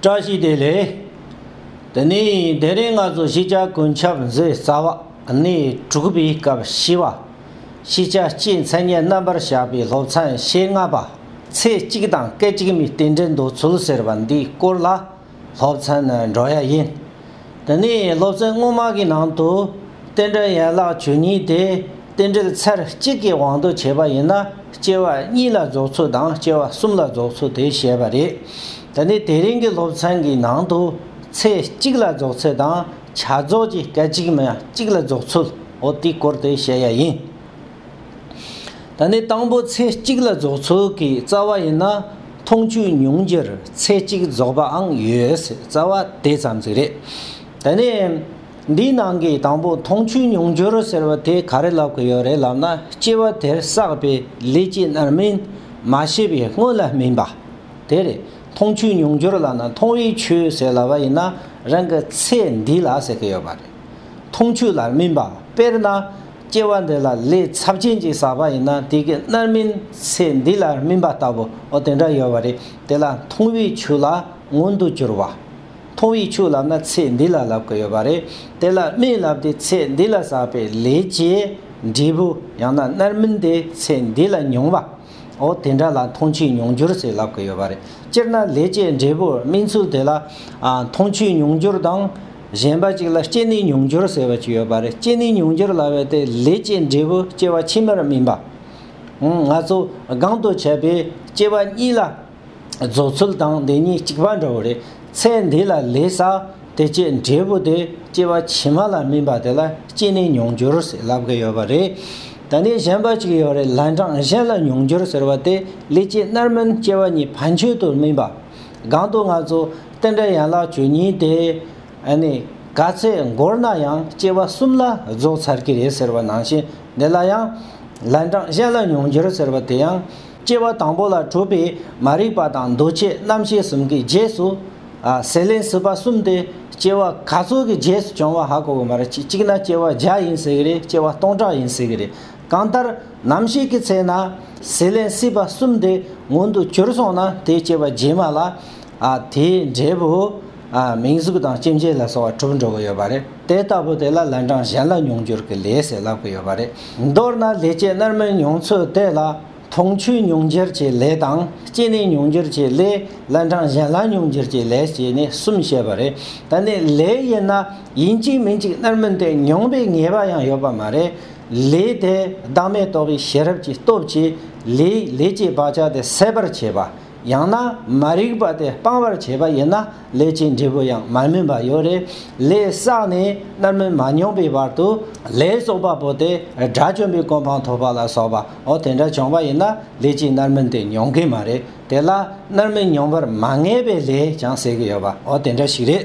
བཀྲ་ཤིས་བདེ་ལེགས། དེ་ནས་དེ་རིང་ང་ཚོ་གཞིས་ཆགས་ཀུན་ཁྱབ་མཛོད་རྩ་བ་གནས་དྲུག་པའི་སྐབས་བཞི་བ། གཞིས་ཆགས་སྤྱིའི་མཚན་སྙན་རྣམ་པར་བཞག་པའི་སློབ་ཚན་ཞེ་ལྔ་པ། ཚེ་གཅིག་དང་སྐད་ཅིག་མའི་རྟེན་འབྲེལ་འདོད་ཚུལ་ཟེར་བ་འདིའི་སྐོར་ལ་སློབ་ཚན་ནི་འགྲོ་ཡ་ཡིན། འདི་ནས་སློབ་ཚན་སྔོན་མ་གི་ནང་དུ་རྟེན་འབྲེལ་ཡན་ལག་བཅུ་གཉིས་དེ་རྟེན་འབྲེལ་ཚར་གཅིག་གི་དབང་དུ་བྱས་པ་ཡིན་ན་སྐྱེ་བ་གཉིས་ལ་རྫོགས་ཚུལ་དང་སྐྱེ་བ་གསུམ་ལ་རྫོགས་ཚུལ་དེ་བཤད་པ་རེད། འདི་ནི་དེ་རིང་གི་སློབ་ཚན་གྱི་ནང་དུ་ཚེ་གཅིག་ལ་རྫོགས་ཚུལ་དང་བྱ་རྫོགས་ཀྱི་སྐད་ཅིག་མ་གཅིག་ལ་རྫོགས་ཚུལ་འོ་དེའི་སྐོར་དེ་བཤད་ཡ་ཡིན། ད་ནི་དང་པོ་ཚེ་གཅིག་ལ་རྫོགས་ཚུལ་གྱི་རྩ་བ་ཡིན་ན་མཐོང་ཆོས་མྱོང་རྒྱུར་ཚེ་གཅིག་རྫོགས་པའང་ཡོད་སྲིད་རྩ་བ་དེ་ཙམ་ཙིག་རེད། ད་ནི། འདིའི་ནང་གི་དང་པོ་མཐོང་ཆོས་མྱོང་རྒྱུར་ཟེར་བ་དེ་ག་རེ་ལབ་ཀྱི་ཡོད་རེད་ལབ་ན་སྐྱེ་བ་དེར་བསགས་པའི་ལས་ཀྱི་རྣམ་སྨིན་མ་ཤེས་པའི་སྔོན་ལ་སྨིན་པ་དེ་རེད། མཐོང་ཆོས་མྱོང་རྒྱུར་ལབ་ན་མཐོང་བའི་ཆོས་ཟེར་ལབ་པ་ཡིན་ན་རང་གི་ཚེ་འདི་ལ་ཟེར་གྱི་ཡོད་པ་རེད། མཐོང་ཆོས་ལ་སྨིན་པ་དཔེར་ན། སྐྱེ་བ་འདི་ལ་ལས་ཚབས་ཆེན་གྱིས་བསགས་པ་ཡིན་ན་དེ་གི་མནར་མིན་ཚེ་འདི་ལ་སྨིན་པ་ལྟ་བུ་འོ་དེ་འདྲ་ཡོད་བ་རེད་དེ་ལ་མཐོང་བའི་ཆོས་ལ་མངོན་དུ་གྱུར་བ། མཐོང་བའི་ཆོས་ལབ་ན་ཚེ་འདི་ལ་ལབ་གི་ཡོད་བ་རེད་དེ་ལ་སྨིན་ལབ་དེ་ཚེ་འདི་ལ་བསགས་པའི་ལས་ཀྱི་འབྲས་བུ་ཡང་ན་མནར་མིན་དེ་ཚེ་འདི་ལ་མྱོང་བ། ཨོ་དེ་འདྲ་ལ་མཐོང་ཆོས་མྱོང་འགྱུར་ཟེར་ལབ་ཀི་ཡོད་པ་རེད། སྤྱིར་ན་ལས་ཀྱི་འབྲས་བུ་སྨིན་ཚུལ་དེ་ལ། མཐོང་ཆོས་མྱོང་འགྱུར་དང། གཞན་པ་ཅིག་ལ་སྐྱེ་གནས་མྱོང་འགྱུར་ཟེར་བ་ཅིག་ཡོད་པ་རེད་སྐྱེ་གནས་མྱོང་འགྱུར་ལ་བས་ཏེ་ལས་ཀྱི་འབྲས་བུ་སྐྱེ་བ་ཕྱི་མར་སྨིན་པ། ང་ཚོ་སྒང་དུ་བྱས་པའི་སྐྱེ་བ་གཉིས་ལ། རྫོགས་ཚུལ་དང་འདི་གཉིས་གཅིག་པ་འདྲ་བོ་རེད། ཚེ་འདི་ལ་ལས་ས་དེ་སྐྱེས་འབྲས་བུ་དེ་སྐྱེས་པ་ཕྱི་མ་ལ་སྨིན་པ་དེ་ལ་སྐྱེས་ནས་མྱོང་འགྱུར་ཟེར་ལབ་གི་ཡོད་པ་རེད། ད་ནི་གཞན་པ་གཅིག་ཡོད་རེད་ལན་གྲངས་གཞན་ལ་མྱོང་འགྱུར་ཟེར་བ་དེ་ལས་སྐྱེས་རྣར་སྨིན་སྐྱེ་བ་གཉིས་བར་མཆོད་དུ་སྨིན་པ། གང་དུ་ང་ཚོ་རྟེན་འབྲེལ་ཡན་ལག་བཅུ་གཉིས་དེ་ནི་ག་ཚད་འགོར་ན་ཡང་སྐྱེ་བ་གསུམ་ལ་རྫོགས་ཚར་གྱི་རེད་ཟེར་བ་ནང་བཞིན་འདི་ལ་ཡང་ལན་གྲངས་གཞན་ལ་མྱོང་འགྱུར་ཟེར་བ་དེ་ཡང་སྐྱེ་བ་དང་པོ་ལ་གྲུབ་པའི་མ་རིག་པ་དང་འདུ་བྱེད་རྣམ་ཤེས་གསུམ་གྱི་རྗེས་སུ། ཟས་ལེན་སྲིད་པ་གསུམ་སྟེ་སྐྱེ་བ་ག་ཚོད་ཀྱི་རྗེས་སུ་བྱུང་བ་ཧ་གོ་གི་མ་རེད་གཅིག་ན་སྐྱེ་བ་བརྒྱ་ཡིན་སྲིད་ཀྱི་རེད་སྐྱེ་བ་སྟོང་ཕྲག་ཡིན་སྲིད་ཀྱི་རེད་གང་ལྟར་ནམ་ཞིག་གི་ཚེ་ན་ཟས་ལེན་སྲིད་པ་གསུམ་དེ་མངོན་དུ་གྱུར་སོང་ན་དེ་སྐྱེ་བ་རྗེས་མ་ལ་དེའི་འབྲས་བུ། མིང་གཟུགས་དང་སྐྱེ་མཆེད་ལ་སོགས་བ་གྲུབ་འགྲོ་གི་ཡོད་པ་རེད། དེ་ལྟ་བུ་དེ་ལ་ལན་གྲངས་གཞན་ལ་མྱོང་འགྱུར་གྱི་ལས་ཞེས་ལབ་ཀྱི་ཡོད་པ་རེད། མདོར་ན་ལས་སྐྱེས་རྣལ་མའི་མྱོང་ཚུལ་དེ་ལ། མཐོང་ཆོས་མྱོང་འགྱུར་གྱི་ལས་དང། སྐྱེ་གནས་མྱོང་འགྱུར་གྱི་ལས། ལན་གྲངས་གཞན་ལ་མྱོང་འགྱུར་གྱི་ལས་ཞེས་ནི་གསུམ་བཤད་པ་རེད། ད་ནི་ལས་ཡིན་ན། ཡིན་གཅིག་མིན་གཅིག་རྣལ་མིན་ཏེ་མྱོང་པའི་ངེས་པ་ཡང་ཡོད་པ་མ་རེད། ལས་དེ་བདག་མེད་རྟོགས་པའི་ཤེས་རབ་ཀྱི་སྟོབས་ཀྱིས། ལས་ཀྱི་བག་ཆགས་དེ་སད་པར་བྱེད་པ། ཡང་ན་མ་རིག་པ་དེ་སྤང་བར་བྱེད་པ་ཡིན་ན་ལས་ཀྱི་འབྲས་བུ་ཡང་མ་སྨིན་པ་ཡོད། རེ་ལས་བསགས་ནས་མནར་མེད་མ་མྱོང་པའི་བར་དུ་ལས་གསོག་པ་པོ་དེ་དགྲ་བཅོམ་པའི་གོ་འཕང་ཐོབ་པ་ལ་སོགས་པ་འོ་དེ་འདྲ་བྱུང་བ་ཡིན་ན་ལས་ཀྱི་མནར་མེད་དེ་མྱོང་གི་མ་རེད། དེ་ལ་མནར་མེད་མྱོང་བར་མ་ངེས་པའི་ལས་ཀྱང་བསལ་གྱི་ཡོད་པ་འོ་དེ་འདྲ་ཞིག་རེད།